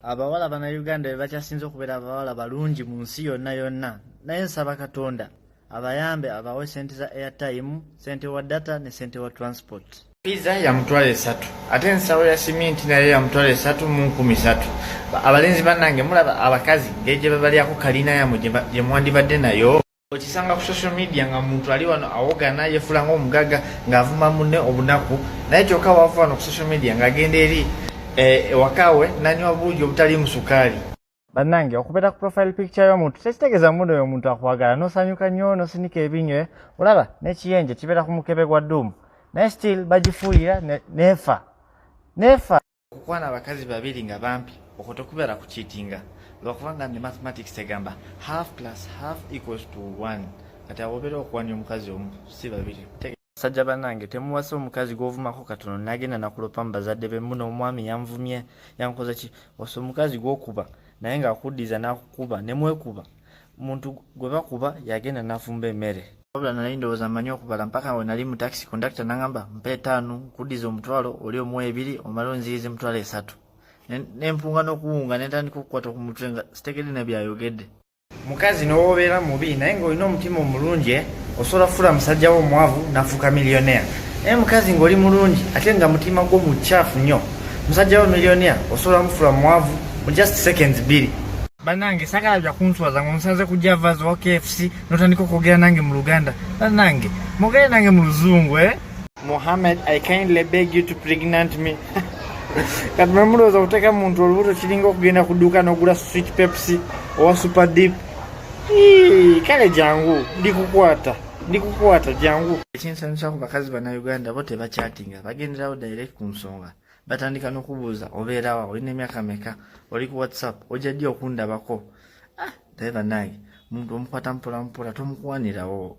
abawala banauganda bebakyasinze okubeera abawala balungi mu nsi yonna yonna naye nsaba katonda abayambe abawe sente za airtime sente wa data ne sente wa transport piza yamutwala esatu ate ensawo ya siminti naye yamutwala esatu mu nkumi satu abalenzi banange mulaba abakazi ngeje bebalyako kalina yamwe gyemwandibadde nayo okisanga ku social media nga muntu ali wano awogana yefula nga omugaga ngaavuma mune obunaku naye kyoka wava wano ku social media ngaagenda eri eh, ewakawe nanywa buugi obutali musukaali banange okubeera ku profile picture y'omuntu tekitegeeza muno oyo omuntu akwagala nosanyuka nnyo nosinika ebinyo eh? olaba n'ekiyenje kibeera ku mukebe gwa duumu naye still bagifuuyira neefa neefa okukwana abakazi babiri nga bampi okwo tekubeera ku kiitinga lwakubanga ne mathematics egamba half plus half equals to one kati awobeera okuwanya omukazi omu si babiri sajja banange temuwasa omukazi gwovumako katono nagenda nakulopa mu bazadde be muno omwami yanvumye yankoza ki wasa omukazi gwokuba naye nga akuddiza nakukuba nemwekuba muntu gwe bakuba yagenda nafumba emere wabula nali ndowooza mmanyi okubala mpaka we nali mu taxi kondakita nangamba mpa etaano nkuddiza omutwalo oli omu ebiri omale onziyiza emitwalo esatu nempunga n'okuwunga nentandika okukwata ku mutwe nga sitegedde ne byayogedde mukazi nowoobeera mubi naye ng'olina omutima omulungi eh? osobola kufuula musajja wo omwavu nafuuka millionaire naye mukazi ng'oli mulungi ate nga mutima gwo mucaafu nnyo musajja wo millionaire osobola mufuula mwavu mu just seconds bbiri banange sagala bya kunswaza nga omusanze kujja vazi wa kfc notandika okwogera nange mu luganda banange mugere nange mu luzungu eh? mohammed i kindly beg you to pregnant me kati mwemulowooza okuteeka muntu olubuto kiringa okugenda ku dduuka n'ogula sweet pepsi owa super deep kale jangu ndikukwata ndikukwata jangu ekinsanyusa ku bakazi banauganda bo tebakyatinga bagenderawo direct ku nsonga batandika nokubuuza obeerawa olina emyaka meka oli ku whatsapp ojja ddi okundabako ah naye banange omuntu omukwata mpolampola tomukwanirawo